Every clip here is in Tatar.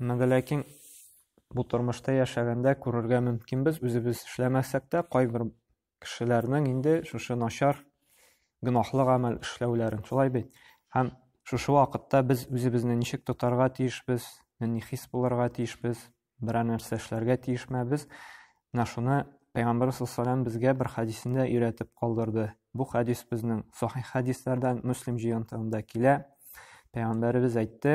Әмма вә ләкин бу тормышта яшәгәндә күрергә мөмкинбез, үзебез эшләмәсәк тә, кайбер кешеләрнең инде шушы начар гөнаһлы гамәл эшләүләрен. Шулай бит? Һәм шушы вакытта без үзебезне ничек тотарга тиешбез, нинди хис булырга тиешбез, берәр нәрсә эшләргә тиешмәбез. Менә шуны Пәйгамбәр саллаллаху безгә бер хәдисендә өйрәтеп калдырды. Бу хәдис безнең сахих хәдисләрдән Муслим җыентыгында килә. Пәйгамбәребез әйтте: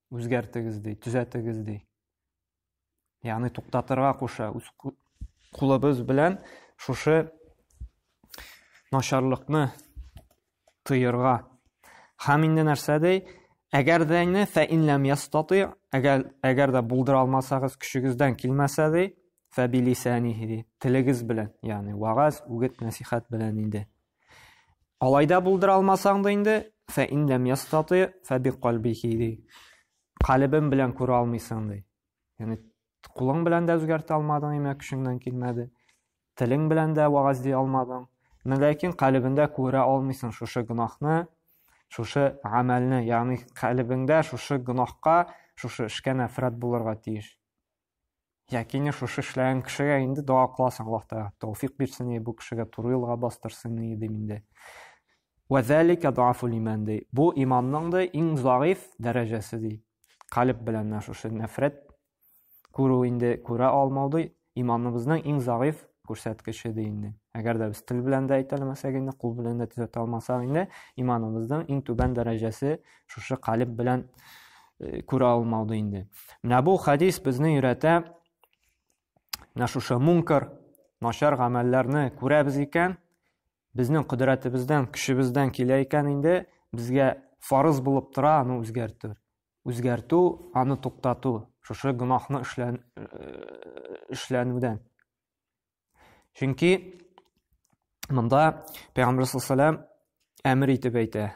Үзгәртегез ди, төзәтегез ди. Ягъни туктатырга куша. Үз кулыбыз белән шушы начарлыкны тыйырга. Һәм инде нәрсә ди? Әгәр дә инде фә инләм ястати, әгәр әгәр дә булдыра алмасагыз, көчегездән килмәсә ди, фә билисәнихи ди. Телегез белән, ягъни вагаз, үгет, насихат белән инде. Алай да булдыра алмасаң да инде, фә ин ләм ястати фә би калбихи ди. Калебем белән күрә алмыйсың ди. Яни кулың белән дә үзгәртә алмадың, имә көчеңнән килмәде. Телең белән дә вагаз ди алмадың. Менә ләкин калебендә күрә алмыйсың шушы гынахны, шушы гамәлне, ягъни калебеңдә шушы гынахка, шушы эшкә нәфрәт булырга тиеш. Якине шушы эшләгән кешегә инде дога кыласың, Аллаһ Тәгалә тәүфик бирсен и бу кешегә туры юлга бастырсын и дим инде. Ва залика дуафул иман ди. Бу иманның да иң заиф дәрәҗәсе ди. Калиб белән нә шушы нәфрәт күрү инде күрә алмау ди. Иманыбызның иң заиф күрсәткече ди инде. Әгәр дә без тел белән дә әйтәлмәсәк инде, кул белән дә төзәтә алмасак инде, иманыбызның иң түбән дәрәҗәсе шушы калеб белән э, күрә алмауды инде менә бу хәдис безне өйрәтә менә шушы мункар начар гамәлләрне күрәбез икән безнең кодрәтебездән көчебездән килә икән инде безгә фарыз булып тора аны үзгәртү үзгәртү аны туктату шушы гөнаһны эшлән э, эшләнүдән чөнки монда пәйгамбәр саллаллаху әмер итеп әйтә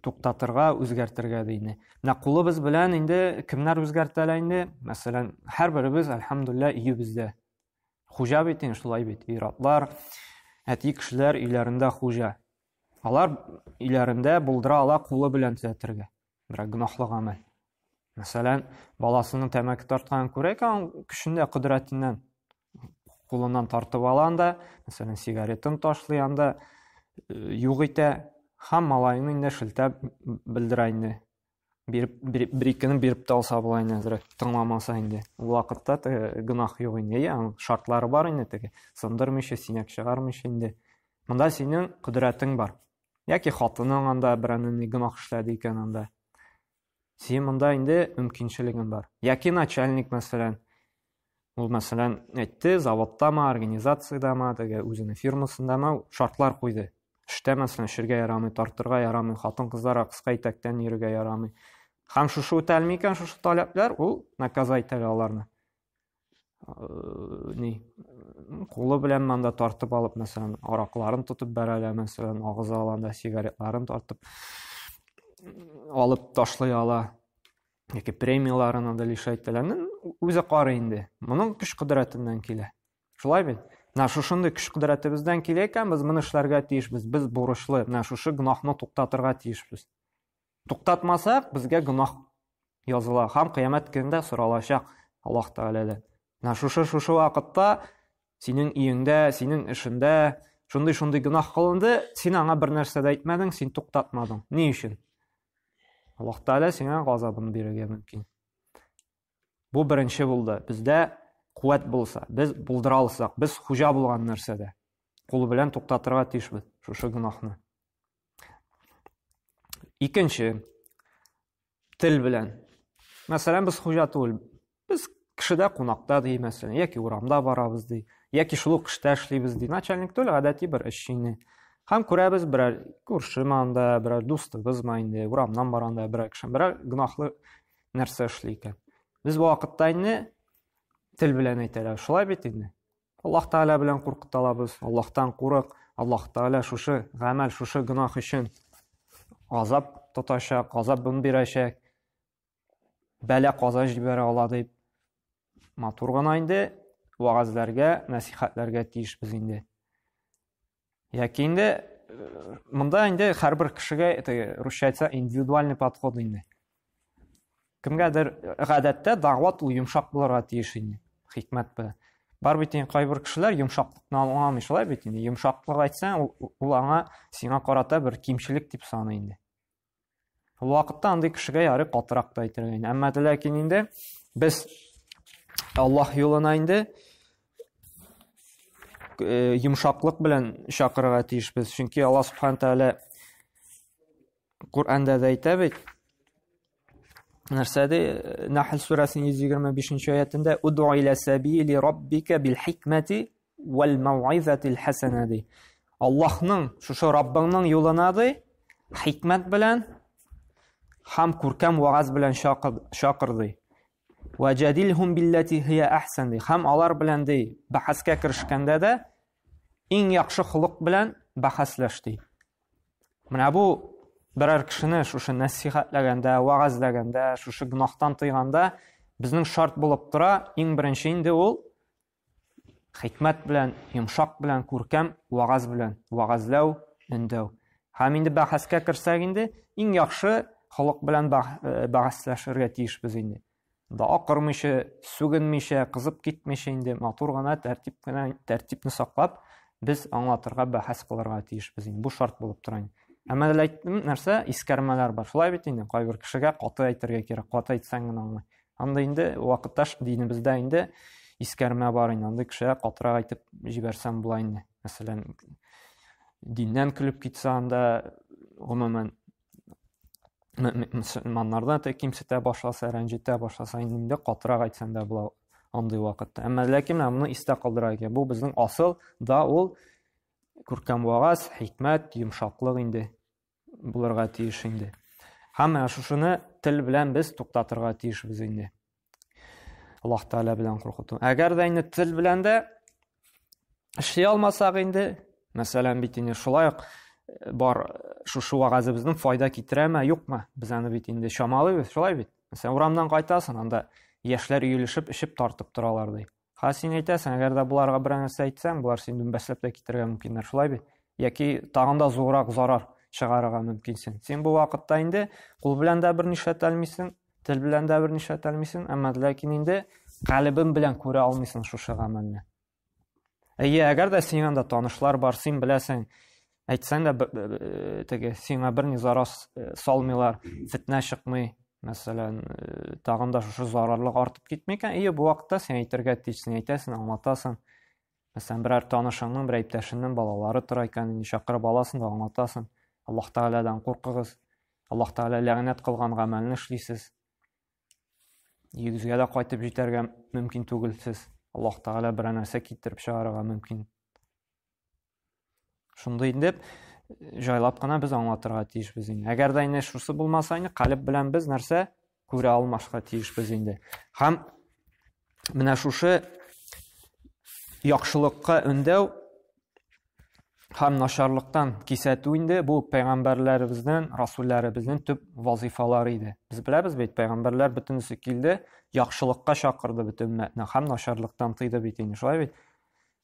туктатырга, үзгәртергә ди инде. Менә кулыбыз белән инде кемнәр үзгәртә лә инде? Мәсәлән, һәрберебез, альхамдулилла, өебездә. Хуҗа бит инде шулай бит, ир-атлар, әти кешеләр өйләрендә хуҗа. Алар өйләрендә булдыра ала кулы белән төзәтергә. Берәр гөнаһлы гамәл. Мәсәлән, баласының тәмәке тартканын күрә икән, көчендә кодрәтеннән кулыннан тартып ала анда, мәсәлән, сигаретын ташлый анда, э, юк итә, һәм малайны инде шелтәп белдерә инде. Биреп, биреп, бер икене биреп тә алса була инде әзрәк, тыңламаса инде. Ул вакытта теге гөнаһ юк инде, я, шартлары бар инде теге, сындырмыйча, синәк чыгармыйча инде. Монда синең кодрәтең бар. яки хатының анда берәне ни гөнаһ эшләде икән анда син монда инде мөмкинчелегең бар яки начальник мәсәлән ул мәсәлән әйтте заводтамы организациядәме теге үзенең фирмасындамы шартлар куйды эштә мәсәлән эчәргә ярамый тартырга ярамый хатын кызларга кыска итәктән йөрергә ярамый һәм шушы үтәлми икән шушы таләпләр ул наказать итә аларны ни кулы белән анда тартып алып мәсәлән аракларын тотып бәрәләр мәсәлән агыза алганда сигаретларын тартып алып ташлый ала яки премияларын анда лишай итәләр үзе карый инде моның көч кодрәтеннән килә шулай бит менә шушындый көч кодрәтебездән килә икән без моны эшләргә тиешбез без бурычлы менә шушы гөнаһны туктатырга тиешбез Туктатмасак, безгә гөнаһ языла һәм кыямәт көнендә соралачак Аллаһ Тәгаләдән. Менә шушы шушы вакытта синең өеңдә, синең эшендә шундый-шундый гөнаһ кылынды, син аңа бер нәрсә дә әйтмәдең, син туктатмадың. Ни өчен? Аллаһ Тәгалә сиңа газабын бирергә мөмкин. Бу беренче булды. Бездә куәт булса, без булдыра алсак, без хуҗа булган нәрсәдә кул белән туктатырга тиешбез шушы гөнаһны. Икенче тел белән. Мәсәлән, без хуҗа түгел. Без кешедә кунакта ди, мәсәлән, яки урамда барабыз ди, яки шул ук эштә эшлибез ди. Начальник түгел, гадәти бер эшчене. Һәм күрәбез берәр күрше манда, берәр дустыбыз ма инде, урамнан барганда берәр кеше, берәр гөнаһлы нәрсә эшли икән без бу вакытта инде тел белән әйтәләр шулай бит инде аллаһ тәгалә белән куркыта алабыз аллаһтан курык аллаһ тәгалә шушы гамәл шушы гөнаһ өчен газап тотачак газабын бирәчәк бәлә каза җибәрә ала дип матур гына инде вәгазьләргә нәсихәтләргә тиешбез инде яки инде э, монда инде һәрбер кешегә это русча айтса индивидуальный подход инде кемгәдер гадәттә дәгъват ул йомшак булырга тиеш инде хикмәт белән бар бит инде кайбер кешеләр йомшаклыкны аңламый шулай бит инде йомшаклык айтсаң ул аңа сиңа карата бер кимчелек дип саный инде Ул вакытта андый кешегә ярый катырак та әйтергә инде. Әмма ләкин инде без Аллаһ юлына инде э, йомшаклык белән чакырырга тиешбез. Чөнки Аллаһ субхан тәгалә Коръәндә дә әйтә бит. Нәрсә ди? Нәхл сүрәсенең 125-нче аятында: "Уду иля сабили раббика бил хикмати Вәл мауизатил хәсәнә ди. Аллаһның, шушы Раббыңның юлына ди, хикмәт белән һәм күркәм вагаз белән чакыр ди. Вә җадилһум билләти хия әхсән ди. Һәм алар белән ди, бәхәскә керешкәндә дә иң яхшы холык белән бәхәсләш ди. Менә бу берәр кешене шушы нәсихәтләгәндә, вагазләгәндә, шушы гөнаһтан тыйганда безнең шарт булып тора, иң беренче инде ул Хикмәт белән, йомшак белән, күркәм вагаз белән, вагазләү, өндәү. Һәм инде бәхәскә керсәк инде, иң яхшы халык белән э, бәхәсләшергә тиешбез инде. Да акырмыйча, сүгенмичә, кызып китмичә инде матур гына тәртип кенә тәртипне саклап, без аңлатырга бәхәс кылырга тиешбез инде. Бу шарт булып тора инде. Әмма әле әйттем, нәрсә, искәрмәләр бар. Шулай бит инде, кайбер кешегә каты әйтергә кирәк, каты әйтсәң генә аңлый. Анда инде вакытташ динебездә инде искәрмә бар инде. Андый кешегә катырак әйтеп җибәрсәм була инде. Мәсәлән, диннән көлеп китсә анда гомумән мөселманнардан да кимсетә башласа, рәнҗетә башласа, инде катырак әйтсәң дә була андый вакытта. Әмма ләкин менә моны истә калдыра икән. Бу безнең асыл да ул күркәм вагаз, хикмәт, йомшаклык инде. булырга тиеш инде. Һәм менә шушыны тел белән без туктатырга тиешбез инде. Аллаһ Тәгалә белән куркыту. Әгәр дә инде тел белән дә эшли алмасак инде, мәсәлән, бит инде шулай ук э, бар э, шушы вагазыбызның файда китерәме, юкмы? Без аны бит инде чамалыйбыз, шулай бит. Мәсәлән, урамнан кайтасың, анда яшьләр өелешеп, эчеп тартып торалар ди. Ха син әйтәсең, әгәр дә боларга берәр нәрсә әйтсәң, болар син дүмбәсләп тә китергә мөмкиннәр, шулай бит? Яки тагын да зуррак зарар чыгарырга мөмкинсең. Син бу вакытта инде кул белән дә бер нишләтә алмыйсың, тел белән дә бер нишләтә алмыйсың, әмма ләкин инде калебең белән күрә алмыйсың шушы гамәлне. Әйе, әгәр дә синең анда танышлар бар, син беләсең, әйтсәң дә э, теге сиңа берни зарар э, салмыйлар фетнә чыкмый мәсәлән э, тагын да шушы зарарлык артып китми икән ие бу вакытта син әйтергә тиешсең әйтәсең аңлатасың мәсәлән берәр танышыңның берәр иптәшеңнең балалары тора икән инде чакырып аласың да аңлатасың аллаһ тәгаләдән куркыгыз аллаһ тәгалә ләгънәт кылган гамәлне эшлисез йөзгә дә кайтып җитәргә мөмкин түгел сез аллаһ тәгалә берәр нәрсә китереп чыгарырга мөмкин шундый дип жайлап кына без аңлатырга тиешбез инде әгәр дә инде шусы булмаса инде калеб белән без нәрсә күрә алмашка тиешбез инде һәм менә шушы яхшылыкка өндәү һәм начарлыктан кисәтү инде бу пәйгамбәрләребезнең расулләребезнең төп вазифалары иде без беләбез бит пәйгамбәрләр бөтенесе килде яхшылыкка чакырды бөтен өммәтне һәм начарлыктан тыйды бит инде шулай бит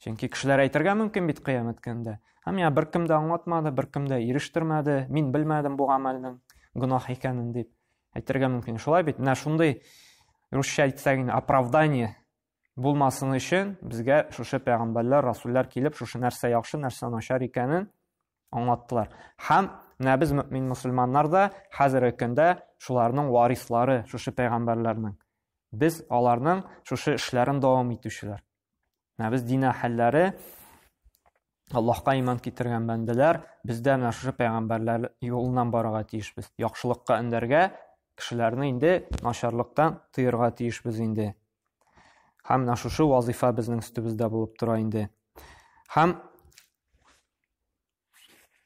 Чөнки кешеләр әйтергә мөмкин бит кыямәт көндә. Һәм я беркем дә аңлатмады, беркем дә ирештермәде, мин белмәдем бу гамәлнең гөнаһ икәнен дип әйтергә мөмкин. Шулай бит, менә шундый русча әйтсәк инде оправдание булмасын өчен безгә шушы пәйгамбәрләр, расуллар килеп, шушы нәрсә яхшы, нәрсә начар икәнен аңлаттылар. Һәм менә без мөмин мусульманнар да хәзерге көндә шуларның варислары, шушы пәйгамбәрләрнең. Без аларның шушы эшләрен дәвам итүчеләр. Менә без дин әһелләре, Аллаһка иман китергән бәндәләр, бездә менә шушы пәйгамбәрләр юлыннан барырга тиешбез. Яхшылыкка эндәргә, кешеләрне инде начарлыктан тыерга тиешбез инде. Һәм менә шушы вазифа безнең өстебездә булып тора инде. Һәм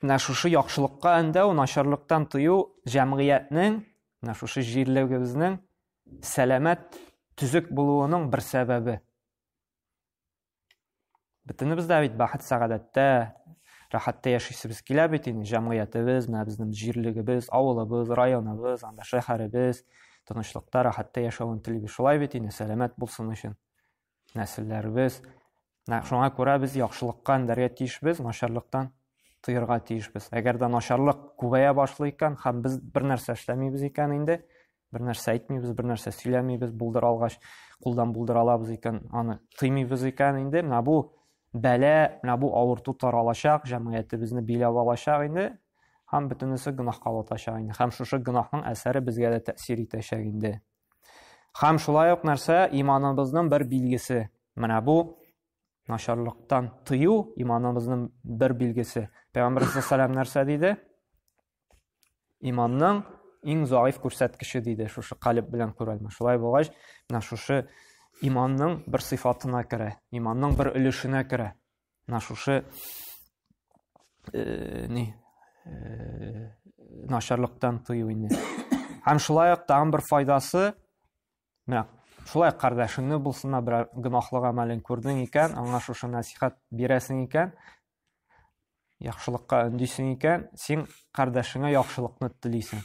менә шушы яхшылыкка эндәү, начарлыктан тыю җәмгыятьнең, менә шушы җирлегебезнең Сәламәт, төзек булуының бер сәбәбе. Бөтенебез дә бит бәхет сәгадәттә, рәхәттә яшисебез килә бит инде, җәмгыятебез, менә безнең җирлегебез, авылыбыз, районыбыз, анда шәһәребез тынычлыкта, рәхәттә яшәвен телибез. Шулай бит инде, сәламәт булсын өчен. нәселләребез. Менә шуңа күрә без яхшылыкка өндәргә тиешбез, начарлыктан тыярга тиешбез. Әгәр дә начарлык күбәя башлый икән һәм без бер нәрсә эшләмибез икән инде, бер нәрсә әйтмибез, бер нәрсә сөйләмибез, булдыра алгач, кулдан булдыра алабыз икән, аны тыймыйбыз икән инде, менә бу бәлә, менә бу авырту таралачак, җәмгыятебезне биләп алачак инде һәм бөтенесе гөнаһка ватачак инде. Һәм шушы гөнаһның әсәре безгә дә тәэсир итәчәк инде. Хәм шулай ук нәрсә иманыбызның бер билгесе. Менә бу начарлыктан тыю иманыбызның бер билгесе. Пәйгамбәр саллаллаһу нәрсә диде? Иманның иң заиф күрсәткече диде, шушы калиб белән күрәлмә. Шулай булгач, менә шушы иманның бер сыйфатына керә, иманның бер өлешенә керә. Менә шушы э, ни э, начарлыктан тыю инде. Һәм шулай ук тагын бер файдасы, менә шулай кардәшеңне булсына бер гөнаһлы гамәлен күрдең икән, аңа шушы насихат бирәсең икән, яхшылыкка өндисең икән, син кардәшеңә яхшылыкны телисең.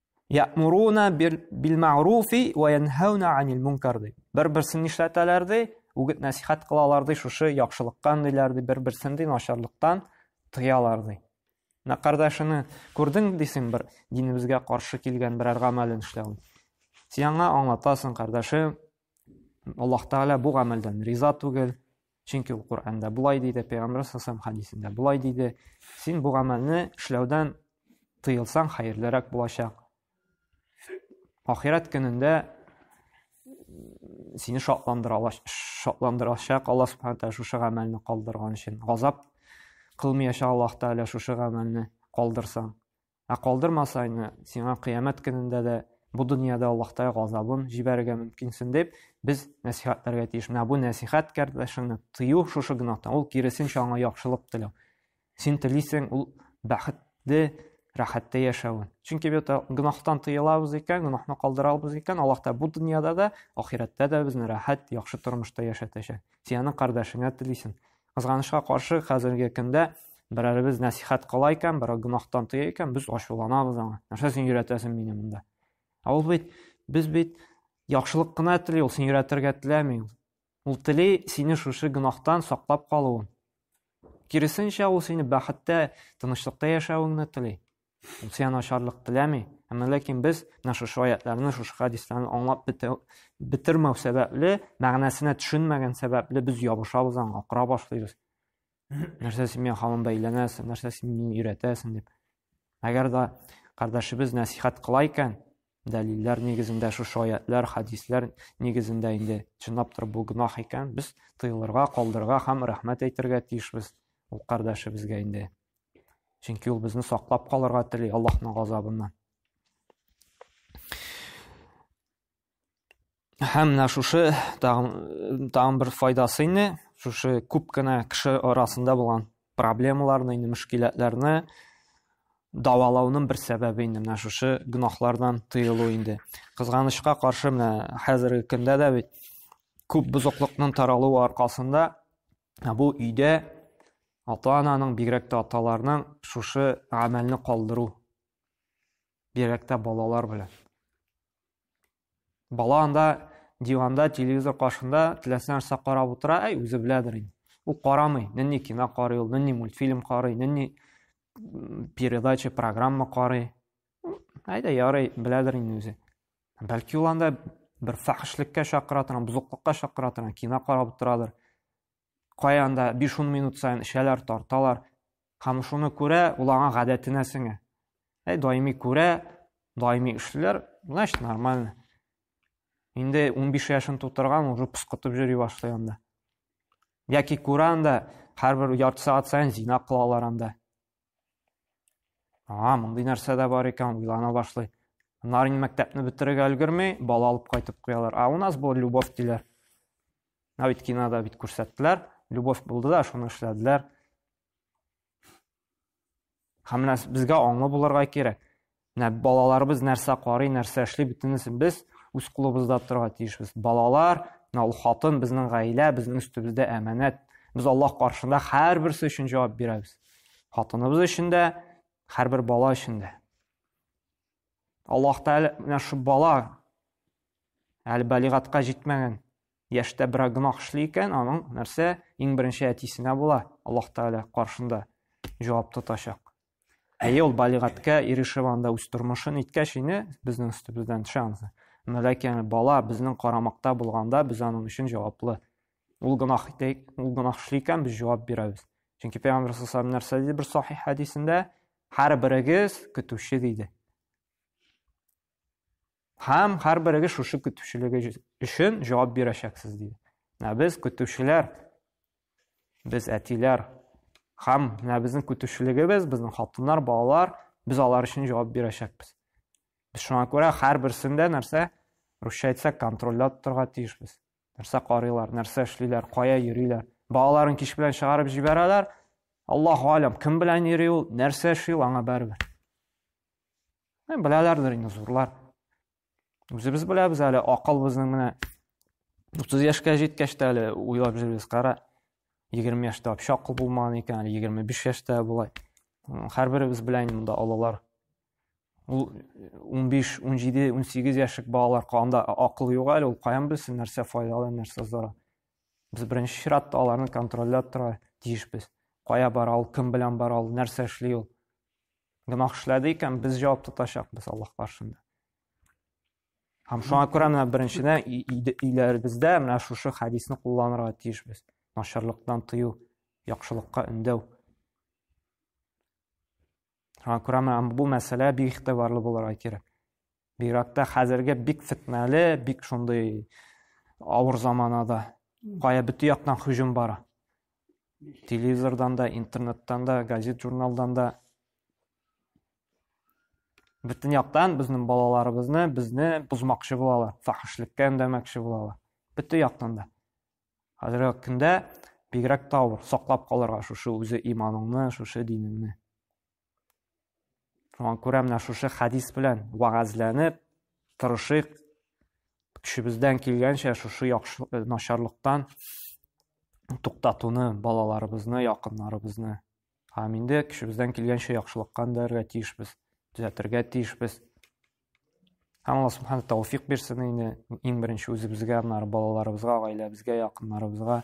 Ямуруна бил маруфи ва янхауна анил мункар ди. Бер-берсен нишләтәләр ди, үгет насихат кылалар ди, шушы яхшылыктан диләр ди, бер-берсен ди начарлыктан тыялар ди. Менә кардәшеңне күрдең дисең бер динебезгә каршы килгән берәр гамәлен эшләвен. Сиңа аңлатасың, кардәшем, Аллаһ Тәгалә бу гамәлдән риза түгел, Чөнки ул Коръәндә болай диде, Пәйгамбәр саллаллаху хадисендә болай диде. Син бу гамәлне эшләүдән тыелсаң, хәерлерәк булачак. Ахирәт көнендә сине шатландыра шатландырачак Аллаһ субхана тәгалә шушы гамәлне калдырган өчен. Газап кылмаячак Аллаһ тәгалә шушы гамәлне калдырсаң. Ә калдырмасайны, сиңа кыямәт көнендә дә, бу дөньяда Аллаһтай газабын җибәрергә мөмкинсең дип, без нәсихәтләргә тиеш. Менә бу нәсихәт кардәшеңне тыю шушы гөнаһтан, ул киресенчә аңа яхшылык теләү. Син телисең ул бәхетле, рәхәттә яшәвен. Чөнки бит гөнаһтан тыелабыз икән, гөнаһны калдырабыз икән, Аллаһ та бу дөньяда да, ахирәттә дә безне рәхәт, яхшы тормышта яшәтәчәк. Сиянең кардәшеңә телисең. Кызганычка каршы, хәзерге көндә берәребез нәсихәт кыла икән, берәү гөнаһтан тыя икән, без ачуланабыз аңа. Нәрсә син өйрәтәсең мине монда? Ә ул бит, без бит яхшылык кына тели, ул син өйрәтергә теләми. Ул тели сине шушы гөнаһтан саклап калуын. Киресенчә, ул сине бәхеттә, тынычлыкта яшәвеңне тели. Ул сиңа начарлык теләми. Әмма ләкин без менә шушы аятларны, шушы хадисларны аңлап бетермәү сәбәпле, мәгънәсенә төшенмәгән сәбәпле без ябышабыз аңа, акыра башлыйбыз. Нәрсә син миңа хамын бәйләнәсең, нәрсә син мине өйрәтәсең дип. Әгәр дә кардәшебез нәсихәт кыла икән, дәлилләр нигезендә шушы аятлар, хадислар нигезендә инде чынлап торып бу гөнаһ икән, без тыелырга, калдырырга һәм рәхмәт әйтергә тиешбез ул кардәшебезгә инде. Чөнки ул безне саклап калырга тели Аллаһның газабыннан. Һәм менә шушы тагын бер файдасы инде, шушы күп кенә кеше арасында булган проблемаларны, инде мөшкиләтләрне давалауның бер сәбәбе инде менә шушы гөнаһлардан тыелу инде. Кызганычка каршы менә хәзерге көндә дә бит күп бозыклыкның таралуы аркасында Ә бу өйдә ата-ананың, бигрәк тә аталарның шушы гамәлне калдыру. Бигрәк тә балалар белән. Бала анда диванда, телевизор каршында теләсә нәрсә карап утыра, әй, үзе беләдер инде. Ул карамый, нинди кино карый ул, нинди мультфильм карый, нинди передача, программа карый. Әйдә, ярый, беләдер инде үзе. Бәлки ул анда бер фәхешлеккә чакыра торган, бозыклыкка чакыра торган кино карап утырадыр. Кая анда 5-10 минут саен эчәләр, тарталар. Һәм шуны күрә, ул аңа гадәтенә сеңә. Әй, даими күрә, даими эшләр, значит, нормально. Инде 15 яшен тутырган, уже пыскытып йөри башлый анда. Яки күрә анда, һәрбер ярты сәгать саен зина кылалар анда. А, мондый нәрсә дә бар икән, уйлана башлый. Нар инде мәктәпне бетерергә өлгерми, бала алып кайтып куялар. А у нас был любовь диләр. Менә бит кинода бит күрсәттеләр. Любовь булды да, шуны эшләделәр. Һәм менә безгә аңлы булырга кирәк. Менә балаларыбыз нәрсә карый, нәрсә эшли, бөтенесен без үз кулыбызда торырга тиешбез. Балалар, менә ул хатын, безнең гаилә, безнең өстебездә әманәт. Без Аллаһ каршында һәрберсе өчен җавап бирәбез. Хатыныбыз өчен дә, һәрбер бала өчен дә. Аллаһ Тәгалә менә шу бала әле балигатка җитмәгән яшьтә берәр гөнаһ эшли икән, аның нәрсә иң беренче әтисенә була, Аллаһ Тәгалә каршында җавап тотачак. Әйе, ул балигатькә ирешеп анда үз тормышын иткәч инде безнең өстебездән төшә анысы. Но ләкин бала безнең карамакта булганда без аның өчен җаваплы. Ул гөнаһ итәйк, ул гөнаһ эшли икән, без җавап бирәбез. Чөнки Пәйгамбәр саллаллаху нәрсә диде бер сахих хәдисендә? Һәр берегез көтүче диде. Һәм һәрберегез шушы көтүчелеге өчен җавап бирәчәксез, диде. Менә без көтүчеләр, без әтиләр. Һәм менә безнең көтүчелегебез, безнең хатыннар, балалар, без алар өчен җавап бирәчәкбез. Без шуңа күрә һәрберсен дә нәрсә, русча әйтсәк, контрольләп торырга тиешбез. Нәрсә карыйлар, нәрсә эшлиләр, кая йөриләр. Балаларын кич белән чыгарып җибәрәләр. Аллаһу алям, кем белән йөри ул, нәрсә эшли ул, аңа бәрбер. Беләләрдер инде зурлар. Үзебез беләбез әле, акыл безнең менә 30 яшькә җиткәч тә әле уйлап йөрибез, кара. 20 яшьтә вообще акыл булмаган икән, әле 25 яшьтә болай. Һәрберебез белән монда алалар. Ул 15, 17, 18 яшьлек балалар канда акыл юк әле, ул каян белсен, нәрсә файдалы, нәрсә зарар. Без беренче чиратта аларны контрольләп тора тиешбез. Кая бара ул, кем белән бара ул, нәрсә эшли ул. гөнаһ эшләде икән, без җавап тотачакбыз Аллаһ каршында. Һәм шуңа күрә менә беренчедән өйләребездә менә шушы хәдисне кулланырга тиешбез. Начарлыктан тыю, яхшылыкка өндәү. Шуңа күрә менә бу мәсьәлә бик игътибарлы булырга кирәк. Бигрәк тә хәзерге бик фетнәле, бик шундый авыр заманада. Кая бөтен яктан һөҗүм бара. Телевизордан да, интернеттан да, газет-журналдан да бөтен яктан безнең балаларыбызны, безне бозмакчы булалар, фахишлеккә өндәмәкче булалар. Бөтен яктан да. Хәзерге көндә бигрәк тә авыр, саклап калырга шушы үзе иманыңны, шушы динеңне. Шуңа күрә менә шушы хәдис белән вәгазьләнеп тырышыйк, көчебездән килгәнчә шушы яхшы э, начарлыктан туктатуны балаларыбызны, якыннарыбызны. Һәм инде көчебездән килгәнчә яхшылыкка үндәрергә тиешбез, төзәтергә тиешбез. Һәм Алла субхана тәүфик бирсен инде иң беренче үзебезгә, аннары балаларыбызга, гаиләбезгә, якыннарыбызга.